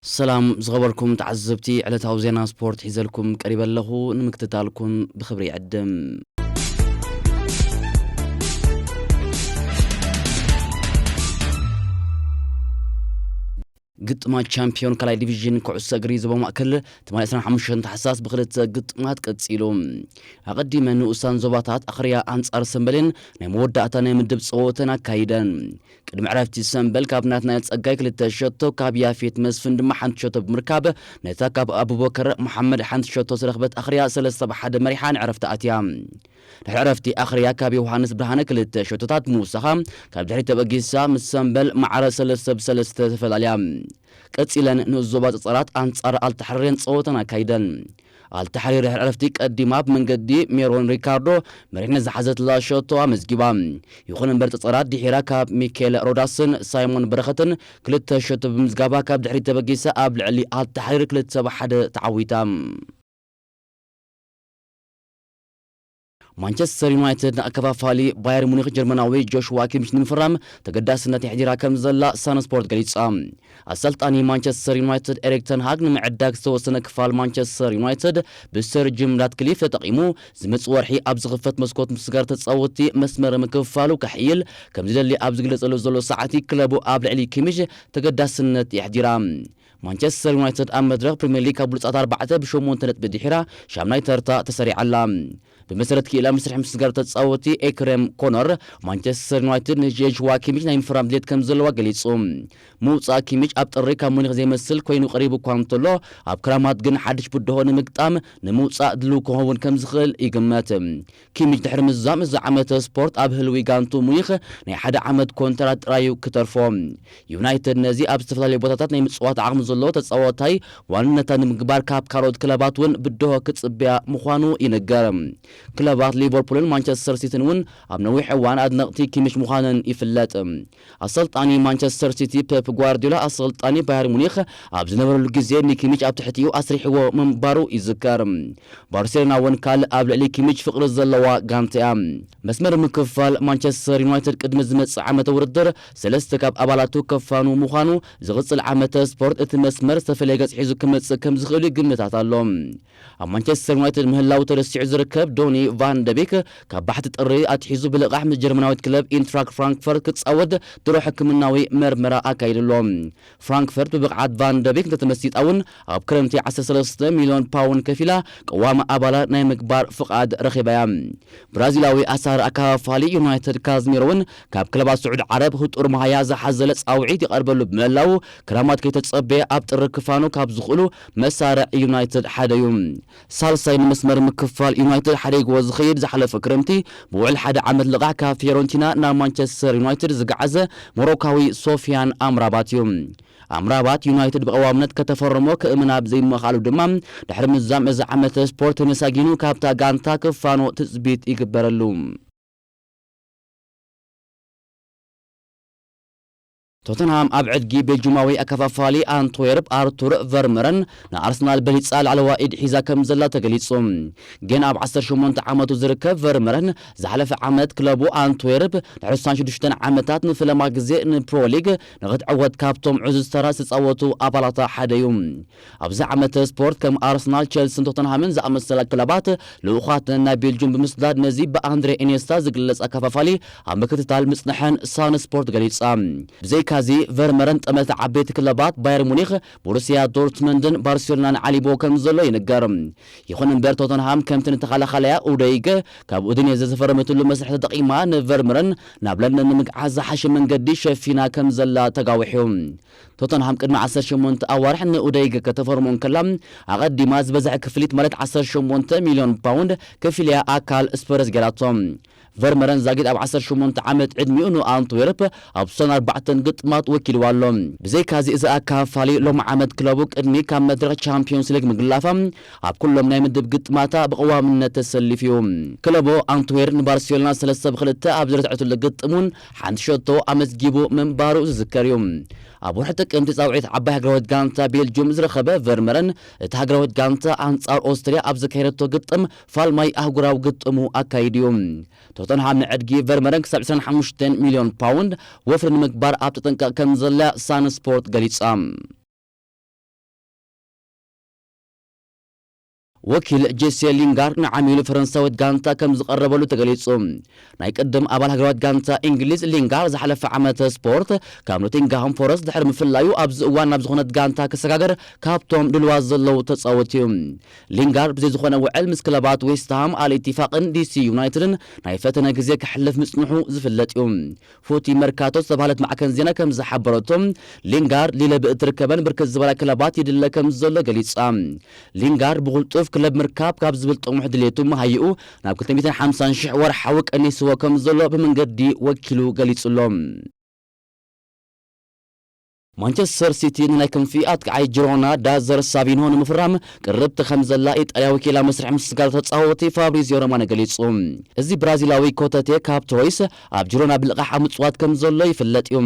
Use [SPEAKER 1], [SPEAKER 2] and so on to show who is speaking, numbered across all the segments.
[SPEAKER 1] ሰላም ዝኸበርኩም ተዓዘብቲ ዕለታዊ ዜና ስፖርት ሒዘልኩም ቀሪበ ኣለኹ ንምክትታልኩም ብኽብሪ ይዕድም። ግጥማት ቻምፒዮን ካልኣይ ዲቪዥን ኩዕሶ እግሪ ዞባ ማእከል ትማሊ 25 ታሕሳስ ብክልተ ግጥማት ቀጺሉ ኣቐዲመ ንኡሳን ዞባታት ኣኽርያ ኣንጻር ሰንበሌን ናይ መወዳእታ ናይ ምድብ ጸወተን ኣካይደን ቅድሚ ዕረፍቲ ሰምበል ካብ ናትናኤል ጸጋይ ክልተ ሸቶ ካብ ያፌት መስፍን ድማ ሓንቲ ሸቶ ብምርካብ ነታ ካብ ኣቡበከር መሓመድ ሓንቲ ሸቶ ዝረኽበት ኣኽርያ ሰለስተ ብ ሓደ መሪሓ ንዕረፍቲ ኣትያ። ድሕሪ ዕረፍቲ ኣኽርያ ካብ ዮውሃንስ ብርሃነ ክልተ ሸቶታት ምውሳኻ ካብ ድሕሪት ተበጊሳ ምስ ሰምበል ማዕረ ሰለስተ ብ ሰለስተ ተፈላልያ። ቀጺለን ንዞባ ጸጸራት ኣንጻር ኣልታሕሪሬን ጸወተን ኣካይደን። ኣልታሕሪር ድሕሪ ዕረፍቲ ቀዲማ ኣብ መንገዲ ሜሮን ሪካርዶ መሪሕነት ዝሓዘትላ ሸቶ ኣመዝጊባ። ይኹን እምበር ጸጸራት ድሒራ ካብ ሚኬል ሮዳስን ሳይሞን በረኸትን ክልተ ሸቶ ብምምዝጋባ ካብ ድሕሪት ተበጊሳ ኣብ ልዕሊ ኣልታሕሪር ክልተ ብ ሓደ ተዓዊታ። ማንቸስተር ዩናይትድ ንኣከፋፋሊ ባየር ሙኒክ ጀርመናዊ ጆሽዋ ኪምች ንምፍራም ተገዳስነት የሕዲራ ከምዘላ ሳን ስፖርት ገሊጻ። ኣሰልጣኒ ማንቸስተር ዩናይትድ ኤሪክ ተን ሃግ ንምዕዳግ ዝተወሰነ ክፋል ማንቸስተር ዩናይትድ ብሰር ጂም ራትክሊፍ ተጠቒሙ ዝመጽእ ወርሒ ኣብ ዝኽፈት መስኮት ምስጋር ተጻወትቲ መስመር ምክፍፋሉ ከሕይል ከምዝደሊ ኣብ ዝግለጸሉ ዘሎ ሰዓት'ዩ ክለቡ ኣብ ልዕሊ ኪምች ተገዳስነት የሕዲራ። ማንቸስተር ዩናይትድ ኣብ መድረኽ ፕሪምየር ሊግ ካብ ብሉጻት ኣርባዕተ ብሸሞንተ ነጥቢ ድሒራ ሻምናይ ተርታ ተሰሪዓ ኣላ። ብመሰረት ክኢላ መስርሕ ምስጋር ተጻወቲ ኤክረም ኮኖር፣ ማንቸስተር ዩናይትድ ንዥየዥዋ ኪሚች ናይ ምፍራም ድሌት ከምዘለዋ ገሊጹ። ምውጻእ ኪሚች ኣብ ጥሪ ካብ ሙኒኽ ዘይመስል ኰይኑ ቀሪቡ እኳ እንተሎ፣ ኣብ ክራማት ግን ሓድሽ ብድሆ ንምግጣም ንምውጻእ ድሉው ክኸውን ከምዝኽእል ይግመት። ኪሚች ድሕሪ ምዛም እዚ ዓመተ ስፖርት ኣብ ህልዊ ጋንትኡ ሙኒኽ ናይ ሓደ ዓመት ኮንትራት ጥራይ'ዩ ክተርፎ። ዩናይትድ ነዚ ኣብ ዝተፈላለዩ ቦታታት ናይ ምጽዋት ዓቕሚ ዘለዎ ተጻዋታይ ዋንነታ ንምግባር ካብ ካልኦት ክለባት ውን ብድሆ ክጽበያ ምዃኑ ይንገር። ክለባት ሊቨርፑልን ማንቸስተር ሲቲን ውን ኣብ ነዊሕ እዋን ኣድነቕቲ ኪሚች ምዃነን ይፍለጥ። ኣሰልጣኒ ማንቸስተር ሲቲ ፔፕ ጓርድዮላ ኣሰልጣኒ ባየር ሙኒኽ ኣብ ዝነበረሉ ግዜ ንኪሚች ኣብ ትሕቲኡ ኣስሪሕዎ ምንባሩ ይዝከር። ባርሴሎና'ውን ካልእ ኣብ ልዕሊ ኪሚች ፍቕሪ ዘለዋ ጋንታ'ያ። መስመር ምክፋል ማንቸስተር ዩናይትድ ቅድሚ ዝመጽእ ዓመተ ውድድር ሰለስተ ካብ ኣባላቱ ከፋኑ ምዃኑ፣ ዝቕጽል ዓመተ ስፖርት እቲ መስመር ዝተፈለየ ገጽ ሒዙ ክመጽእ ከምዝኽእል'ዩ ግምታት ኣሎ። ኣብ ማንቸስተር ዩናይትድ ምህላዉ ተረሲዑ ዝርከብ ዶኒ ቫን ደ ቤክ፣ ካብ ባሕቲ ጥሪ ኣትሒዙ ብልቓሕ ምስ ጀርመናዊት ክለብ ኢንትራክ ፍራንክፈርት ክጻወት ድሮ ሕክምናዊ መርመራ ኣካይዱ ኣሎ። ፍራንክፈርት ብብቕዓት ቫን ደ ቤክ እንተተመሲጣ እውን ኣብ ክረምቲ ዓሰርተ ሰለስተ ሚልዮን ፓውንድ ከፊላ ቀዋሚ ኣባላ ናይ ምግባር ፍቓድ ረኺባ እያ። ብራዚላዊ ኣሳሪ ኣከፋፋሊ ዩናይትድ ካዝሚሮ እውን ካብ ክለባት ስዑዲ ዓረብ ህጡር መሃያ ዝሓዘለ ጻውዒት ይቐርበሉ ብምህላዉ፣ ክራማት ከይተጸበየ ኣብ ጥሪ ክፋኖ ካብ ዝኽእሉ መሳርዕ ዩናይትድ ሓደ'ዩ። ሳልሳይ ንመስመር ምክፋል ዩናይትድ ሓዲግዎ ዝኸይድ ዝሓለፈ ክረምቲ ብውዕል ሓደ ዓመት ልቓሕ ካብ ፊዮረንቲና ናብ ማንቸስተር ዩናይትድ ዝገዓዘ ሞሮካዊ ሶፍያን ኣምራባት'ዩ። ኣምራባት ዩናይትድ ብቐዋምነት ከተፈርሞ ክእምን ኣብ ዘይምኽኣሉ ድማ ድሕሪ ምዛም እዚ ዓመተ ስፖርት ተመሳጊኑ ካብታ ጋንታ ክፋኖ ትጽቢት ይግበረሉ። ቶተንሃም ኣብ ዕድጊ ቤልጁማዊ ኣከፋፋሊ ኣንትዌርፕ ኣርቱር ቨርምረን ንኣርሰናል በሊጻ ላዕለዋይ ኢድ ሒዛ ከምዘላ ተገሊጹ። ገና ኣብ ዓሰርተ ሸሞንተ ዓመቱ ዝርከብ ቨርምረን ዝሓለፈ ዓመት ክለቡ ኣንትዌርፕ ንሕሳን ሽዱሽተን ዓመታት ንፍለማ ግዜ ንፕሮሊግ ንኽትዕወት ካብቶም ዕዙዝ ተራ ዝተጻወቱ ኣባላታ ሓደ'ዩ። ኣብዚ ዓመተ ስፖርት ከም ኣርሰናል፣ ቸልሲን ቶተንሃምን ዝኣመሰላ ክለባት ልኡኻተን ናብ ቤልጁም ብምስዳድ ነዚ ብኣንድሬ ኢንየስታ ዝግለጽ ኣከፋፋሊ ኣብ ምክትታል ምጽንሐን ሳን ስፖርት ገሊጻ። ብዘይካዚ ቨርመረን ጠመተ ዓበይቲ ክለባት ባየር ሙኒኽ፣ ቦሩስያ ዶርትመንድን ባርሴሎናን ዓሊቡዎ ከምዘሎ ይንገር። ይኹን እምበር ቶተንሃም ከምቲ ንተኸላኻላያ ኡደይገ ካብ ኡዲኔዘ ዝፈረመትሉ መስርሕ ተጠቒማ ንቨርምረን ናብ ለንደን ንምግዓዝ ዝሓሸ መንገዲ ሸፊና ከምዘላ ተጋዊሑ። ቶተንሃም ቅድሚ ዓሰርተ ሸሞንተ ኣዋርሕ ንኡደይግ ከተፈርሞ እንከላ፣ ኣቐዲማ ዝበዝሐ ክፍሊት ማለት ዓሰርተ ሸሞንተ ሚልዮን ፓውንድ ከፊላ'ያ ኣካል ስፐርስ ገይራቶ። ቨርመረን ዛጊት ኣብ ዓሰርተ ሸሞንተ ዓመት ዕድሚኡ ንኣንትዌርፕ ኣብ ሰን ኣርባዕተ ግጥማት ወኪልዋ ኣሎ። ብዘይካ'ዚ እዚ ኣካፋሊ ሎሚ ዓመት ክለቡ ቅድሚ ካብ መድረኽ ቻምፕዮንስ ሊግ ምግላፋ ኣብ ኩሎም ናይ ምድብ ግጥማታ ብቐዋምነት ተሰሊፉ'ዩ። ክለቡ ኣንትዌር ንባርሴሎና ሰለስተ ብ ክልተ ኣብ ዝረትዐትሉ ግጥም'ውን ሓንቲ ሸቶ ኣመዝጊቡ ምንባሩ ዝዝከር እዩ። ኣብ ወርሒ ጥቅምቲ ጻውዒት ዓባይ ሃገራዊት ጋንታ ቤልጁም ዝረኸበ ቨርመረን፣ እታ ሃገራዊት ጋንታ ኣንጻር ኦስትርያ ኣብ ዘካየደቶ ግጥም ፋልማይ ኣህጉራዊ ግጥሙ ኣካይዱ እዩ። ቶተንሃም ንዕድጊ ቨርመረን ክሳብ ዕስራን ሓሙሽተን ሚልዮን ፓውንድ ወፍሪ ንምግባር ኣብ ተጠንቀቕ ከምዘላ ሳን ስፖርት ገሊጻ። ወኪል ጄሴ ሊንጋር ንዓሚሉ ፈረንሳዊት ጋንታ ከም ዝቐረበሉ ተገሊጹ። ናይ ቅድም ኣባል ሃገራዊት ጋንታ ኢንግሊዝ ሊንጋር ዝሓለፈ ዓመተ ስፖርት ካብ ኖቲንግሃም ፎረስት ድሕሪ ምፍላዩ ኣብዚ እዋን ናብ ዝኾነት ጋንታ ክሰጋገር ካብቶም ድሉዋት ዘለዉ ተጻወቲ'ዩ። ሊንጋር ብዘይ ዝኾነ ውዕል ምስ ክለባት ዌስትሃም፣ ኣል ኢቲፋቅን ዲሲ ዩናይትድን ናይ ፈተነ ግዜ ከሕልፍ ምጽንሑ ዝፍለጥ'ዩ። ፉቲ መርካቶ ዝተባህለት ማዕከን ዜና ከም ዝሓበረቶ፣ ሊንጋርድ ሊለ ብእትርከበን ብርክት ዝበላ ክለባት ይድለ ከም ዘሎ ገሊጻ። ሊንጋርድ ብቕልጡፍ ክለብ ምርካብ ካብ ዝብል ጥሙሕ ድሌቱ መሃይኡ ናብ ክልተ ሚእትን ሓምሳን ሽሕ ወርሓዊ ቀኒስዎ ከም ዘሎ ብመንገዲ ወኪሉ ገሊጹ'ሎ። ማንቸስተር ሲቲ ንናይ ክንፊ ኣጥቃዓይ ጂሮና ዳዘር ሳቪንሆ ንምፍራም ቅርብቲ ከምዘላ ኢጣልያዊ ኪላ መስርሕ ምስግጋር ተጻወቲ ፋብሪዝዮ ሮማኖ ገሊጹ። እዚ ብራዚላዊ ኮተቴ ካብ ትሮይስ ኣብ ጂሮና ብልቓሕ ኣብ ምጽዋት ከምዘሎ ይፍለጥ እዩ።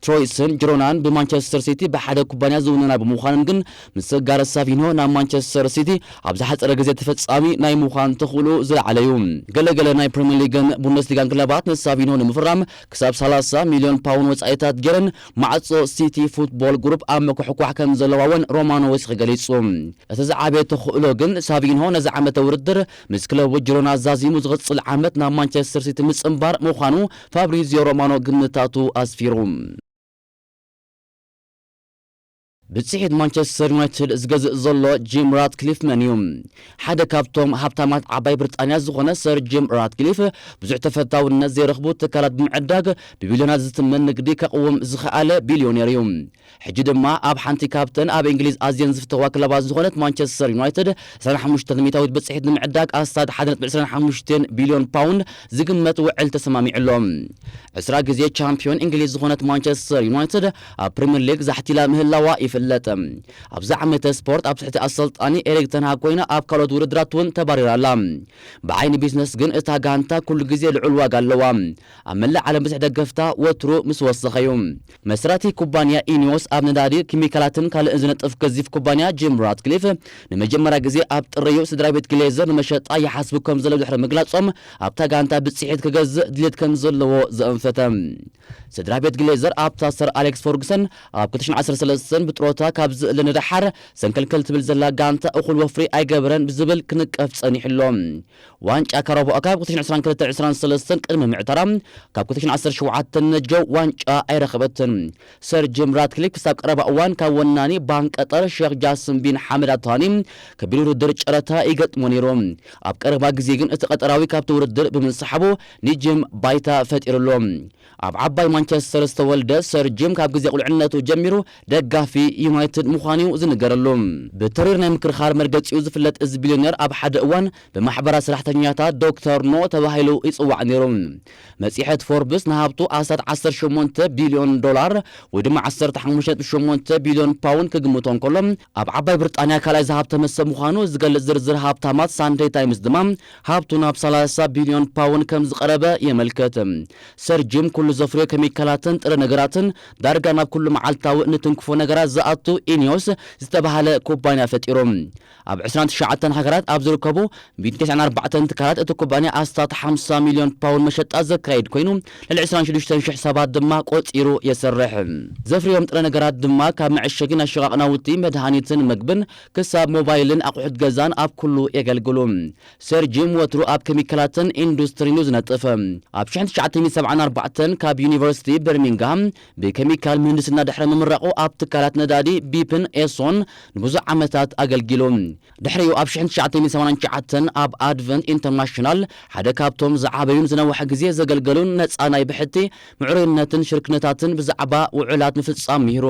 [SPEAKER 1] ትሮይስን ጂሮናን ብማንቸስተር ሲቲ ብሓደ ኩባንያ ዝውነና ብምዃነን ግን ምስግጋር ሳቪንሆ ናብ ማንቸስተር ሲቲ ኣብ ዝሓጸረ ግዜ ተፈጻሚ ናይ ምዃን ተኽእሎኡ ዝለዓለ እዩ። ገለ ገለ ናይ ፕሪመር ሊግን ቡንደስሊጋን ክለባት ንሳቪንሆ ንምፍራም ክሳብ ሰላሳ ሚልዮን ፓውን ወጻኢታት ጌረን ማዕጾ ሲቲ ፉትቦል ግሩፕ ኣብ ምኩሕኳሕ ከም ዘለዋ'ውን ሮማኖዊስኪ ገሊጹ። እቲ ዝዓበየ ተኽእሎ ግን ሳቪንሆ ነዚ ዓመተ ውድድር ምስ ክለቡ ጂሮና ዛዚሙ ዝቕጽል ዓመት ናብ ማንቸስተር ሲቲ ምጽንባር ምዃኑ ፋብሪዝዮ ሮማኖ ግምታቱ ኣስፊሩ። ብጽሒት ማንቸስተር ዩናይትድ ዝገዝእ ዘሎ ጂም ራትክሊፍ መን እዩ? ሓደ ካብቶም ሃብታማት ዓባይ ብርጣንያ ዝኾነ ሰር ጂም ራትክሊፍ፣ ብዙሕ ተፈታውነት ዘይረኽቡ ትካላት ብምዕዳግ ብቢልዮናት ዝትመን ንግዲ ከቕውም ዝኸኣለ ቢልዮኔር እዩ። ሕጂ ድማ ኣብ ሓንቲ ካብተን ኣብ እንግሊዝ ኣዝየን ዝፍተዋ ክለባት ዝኾነት ማንቸስተር ዩናይትድ ዕስራን ሓሙሽተን ሚእታዊት ብጽሒት ንምዕዳግ ኣስታት ሓደ ነጥቢ ዕስራን ሓሙሽተን ቢልዮን ፓውንድ ዝግመት ውዕል ተሰማሚዑ ኣሎ። ዕስራ ግዜ ቻምፕዮን እንግሊዝ ዝኾነት ማንቸስተር ዩናይትድ፣ ኣብ ፕሪምየር ሊግ ዛሕቲላ ምህላዋ ይፍለጥ። ኣብዚ ዓመተ ስፖርት ኣብ ትሕቲ ኣሰልጣኒ ኤሪክ ተን ሃግ ኮይና ኣብ ካልኦት ውድድራት እውን ተባሪራ ኣላ። ብዓይኒ ቢዝነስ ግን እታ ጋንታ ኩሉ ግዜ ልዑል ዋጋ ኣለዋ። ኣብ መላእ ዓለም ብዝሒ ደገፍታ ወትሩ ምስ ወሰኸ እዩ። መስራቲ ኩባንያ ኢኒዎስ ኣብ ነዳዲ፣ ኪሚካላትን ካልእን ዝነጥፍ ገዚፍ ኩባንያ ጂም ራትክሊፍ ንመጀመርያ ግዜ ኣብ ጥሪ እዩ ስድራቤት ግሌዘር ንመሸጣ ይሓስቡ ከምዘለዉ ድሕሪ ምግላጾም ኣብታ ጋንታ ብጽሒት ክገዝእ ድሌት ከምዘለዎ ዘእንፈተ። ስድራ ቤት ግሌዘር ኣብታ ሰር ኣሌክስ ፈርጉሰን ኣብ ክልተ ሽሕን ዓሰርተ ሰለስተን ብጥሮታ ካብ ዝእለ ንደሓር ሰንከልከል ትብል ዘላ ጋንታ እኹል ወፍሪ ኣይገበረን ብዝብል ክንቀፍ ጸኒሑ ኣሎ። ዋንጫ ካራባኦ ካፕ ክልተ ሽሕን ዕስራን ክልተን ዕስራን ሰለስተን ቅድሚ ምዕታራ ካብ ክልተ ሽሕን ዓሰርተ ሸውዓተን ነጀ ዋንጫ ኣይረኸበትን። ሰር ጂም ራትክሊፍ ክሳብ ቀረባ እዋን ካብ ወናኒ ባንክ ቀጠር ሸኽ ጃስም ቢን ሓመድ ኣል ታኒ ከቢድ ውርድር ጨረታ ይገጥሞ ነይሩ። ኣብ ቀረባ ግዜ ግን እቲ ቀጠራዊ ካብቲ ውርድር ብምንሳሓቡ ንጂም ባይታ ፈጢርሉ። ኣብ ዓባይ ማንቸስተር ዝተወልደ ሰር ጂም ካብ ግዜ ቁልዕነቱ ጀሚሩ ደጋፊ ዩናይትድ ምዃኑ'ዩ ዝንገረሉ። ብተሪር ናይ ምክርኻር መርገጺኡ ዝፍለጥ እዚ ቢልዮነር ኣብ ሓደ እዋን ብማሕበራት ሰራሕተኛታት ዶክተር ኖ ተባሂሉ ይጽዋዕ ነይሩ። መጽሔት ፎርብስ ንሃብቱ ኣስታት ዓሰርተ ሸሞንተ ቢልዮን ዶላር ወይ ድማ ዓሰርተ ሓሙሽተ ነጥቢ ሸሞንተ ቢልዮን ፓውንድ ክግምቶ እንከሎ፣ ኣብ ዓባይ ብርጣንያ ካልኣይ ዝሃብተመ ሰብ ምዃኑ ዝገልጽ ዝርዝር ሃብታማት ሳንደይ ታይምስ ድማ ሃብቱ ናብ ሰላሳ ቢልዮን ፓውን ከም ዝቐረበ የመልክት። ሰር ጂም ኩሉ ዘፍርዮ ከሚካላትን ጥረ ነገራትን ዳርጋ ናብ ኩሉ መዓልታዊ እንትንክፎ ነገራት ዝኣቱ ኢኒዮስ ዝተበሃለ ኩባንያ ፈጢሩ። ኣብ ዕስራን ትሽዓተን ሃገራት ኣብ ዝርከቡ ሚእትን ተስዓን ኣርባዕተን ትካላት እቲ ኩባንያ ኣስታት ሓምሳ ሚልዮን ፓውን መሸጣ ዘካይድ ኮይኑ ልዕሊ ዕስራን ሽዱሽተን ሽሕ ሰባት ድማ ቆጺሩ የስርሕ። ዘፍርዮም ጥረ ነገራት ድማ ካብ መዐሸጊ ናሸቃቅ ናውቲ፣ መድሃኒትን መግብን ክሳብ ሞባይልን ኣቑሑት ገዛን ኣብ ኩሉ የገልግሉ። ሰር ጂም ወትሩ ኣብ ከሚካላትን ኢንዱስትሪን እዩ ዝነጥፍ። ኣብ ሽሕን ትሽዓተን ሰብዓን ኣርባዕተን ካብ ዩኒቨርሲቲ በርሚንግሃም ብከሚካል ምህንድስና ድሕሪ ምምራቑ ኣብ ትካላት ነዳዲ ቢፕን ኤሶን ንብዙሕ ዓመታት ኣገልጊሉ። ድሕሪኡ ኣብ ሽሕን ትሽዓተን ሰማንያን ትሽዓተን ኣብ ኣድቨንት ኢንተርናሽናል ሓደ ካብቶም ዝዓበዩን ዝነውሐ ግዜ ዘገልገሉን ነጻ ናይ ብሕቲ ምዕሩይነትን ሽርክነታትን ብዛዕባ ውዑላት ምፍጻም ምሂሩ።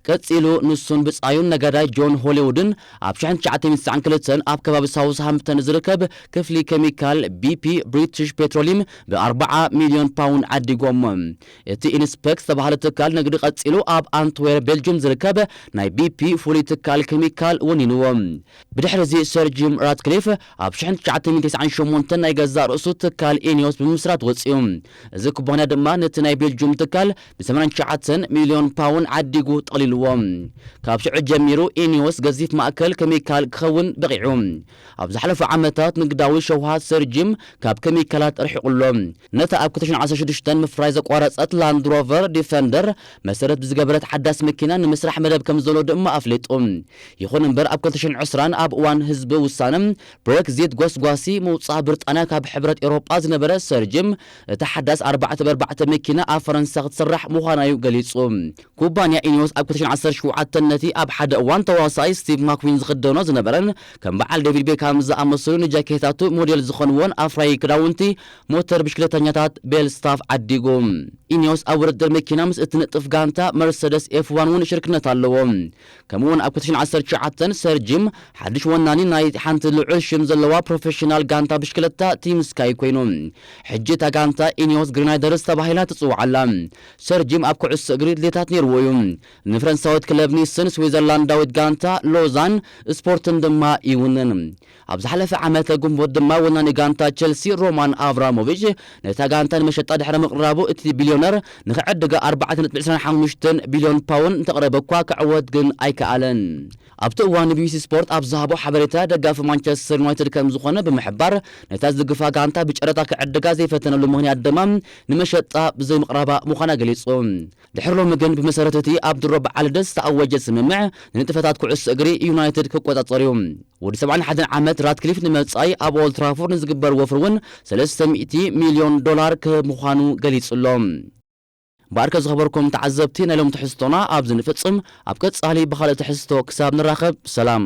[SPEAKER 1] ቀጺሉ ንሱን ብጻዩን ነጋዳይ ጆን ሆሊውድን ኣብ ሽሕን ትሽዓተ ሚእቲ ትስዓን ክልተን ኣብ ከባቢ ሳውዝሃምፕተን ዝርከብ ክፍሊ ከሚካል ቢፒ ብሪትሽ ፔትሮሊም ብ ኣርብዓ ሚልዮን ፓውንድ ዓዲጎሞ። እቲ ኢንስፐክ ዝተባህለ ትካል ንግዲ ቀጺሉ ኣብ ኣንትዌር ቤልጁም ዝርከብ ናይ ቢፒ ፍሉይ ትካል ከሚካል ወኒንዎ። ብድሕሪዚ ሰር ጂም ራትክሊፍ ኣብ ሽሕን ትሽዓተ ሚእቲ ተስዓን ሸሞንተን ናይ ገዛእ ርእሱ ትካል ኢኒዮስ ብምምስራት ወጺኡ። እዚ ኩባንያ ድማ ነቲ ናይ ቤልጁም ትካል ብሰማንያን ትሽዓተን ሚልዮን ፓውን ዓዲጉ ጠቕሊሉዎ። ካብ ሽዑ ጀሚሩ ኢኒዎስ ገዚፍ ማእከል ከሚካል ክኸውን በቒዑ። ኣብ ዝሓለፉ ዓመታት ንግዳዊ ሸውሃት ሰር ጂም ካብ ከሚካላት ኣርሒቑ ኣሎ። ነታ ኣብ ክልተ ሽሕን ዓሰርተ ሽዱሽተን ምፍራይ ዘቋረጸት ላንድ ሮቨር ዲፈንደር መሰረት ብዝገበረት ሓዳስ መኪና ንምስራሕ መደብ ከምዘሎ ድማ ኣፍሊጡ። ይኹን እምበር ኣብ ክልተ ሽሕን ዕስራን ኣብ እዋን ህዝቢ ውሳነ ብረክዚት ጎስጓሲ ምውጻእ ብርጣንያ ካብ ሕብረት ኤውሮጳ ዝነበረ ሰር ጂም፣ እታ ሓዳስ ኣርባዕተ ብ ኣርባዕተ መኪና ኣብ ፈረንሳ ክትስራሕ ምዃና'ዩ ገሊጹ። ኩባንያ ኢኒዮስ ኣብ ክልተ ሽሕን ዓሰርተ ሸውዓተን ነቲ ኣብ ሓደ እዋን ተዋሳኣይ ስቲቭ ማክዊን ዝኽደኖ ዝነበረን ከም በዓል ዴቪድ ቤካም ዝኣመሰሉ ንጃኬታቱ ሞዴል ዝኾንዎን ኣፍራዪ ክዳውንቲ ሞተር ብሽክለተኛታት ቤል ስታፍ ዓዲጉ። ኢኒዮስ ኣብ ውድድር መኪና ምስ እትነጥፍ ጋንታ መርሰደስ ኤፍ-ዋን'ውን ሽርክነት ኣለዎ። ከምኡ'ውን ኣብ ክቲሽን ዓሰርተ ትሽዓተ፣ ሰር ጂም፣ ሓድሽ ወናኒ ናይ ሓንቲ ልዑል ሽም ዘለዋ ፕሮፌሽናል ጋንታ ብሽክለታ ቲም ስካይ ኰይኑ። ሕጂ እታ ጋንታ ኢኒዮስ ግሪናይደርስ ተባሂላ ትጽዋዕ ኣላ። ሰር ጂም ኣብ ኩዕሶ እግሪ ድሌታት ነይርዎ እዩ። ንፈረንሳዊት ክለብ ኒስን ስዊዘርላንዳዊት ጋንታ ሎዛን ስፖርትን ድማ ይውንን። ኣብ ዝሓለፈ ዓመተ ግንቦት ድማ ወናኒ ጋንታ ቸልሲ ሮማን ኣብራሞቪች ነታ ጋንታ ንመሸጣ ድሕሪ ምቕራቡ እቲ ቢልዮነር ንኽዕድጋ ኣርባዕተ ነጥቢ ዕስራን ሓሙሽተን ቢልዮን ፓውንድ እንተቕረበ'ኳ ክዕወት ግን ኣይከኣለን። ኣብቲ እዋን ንቢቢሲ ስፖርት ኣብ ዝሃቦ ሓበሬታ ደጋፊ ማንቸስተር ዩናይትድ ከምዝኾነ ብምሕባር ነታ ዝድግፋ ጋንታ ብጨረታ ክዕድጋ ዘይፈተነሉ ምኽንያት ድማ ንመሸጣ ብዘይምቕራባ ምዃና ገሊጹ። ድሕሪ ሎሚ ግን ብመሰረት እቲ ኣብ ድሮ በዓል ልደት ዝተኣወጀ ስምምዕ፣ ንንጥፈታት ኩዕሶ እግሪ ዩናይትድ ክቆጻጸር'ዩ። ወዲ ሰብዓን ሓደን ዓመት ራትክሊፍ ንመጻኢ ኣብ ኦልድ ትራፎርድ ንዝግበር ወፍሪ እውን ሰለስተ ሚእቲ ሚልዮን ዶላር ክህብ ምዃኑ ገሊጹ'ሎ። እምበኣርከ ዝኸበርኩም ተዓዘብቲ ናይ ሎሚ ትሕዝቶና ኣብዚ ንፍጽም፣ ኣብ ቀጻሊ ብኻልእ ትሕዝቶ ክሳብ ንራኸብ ሰላም።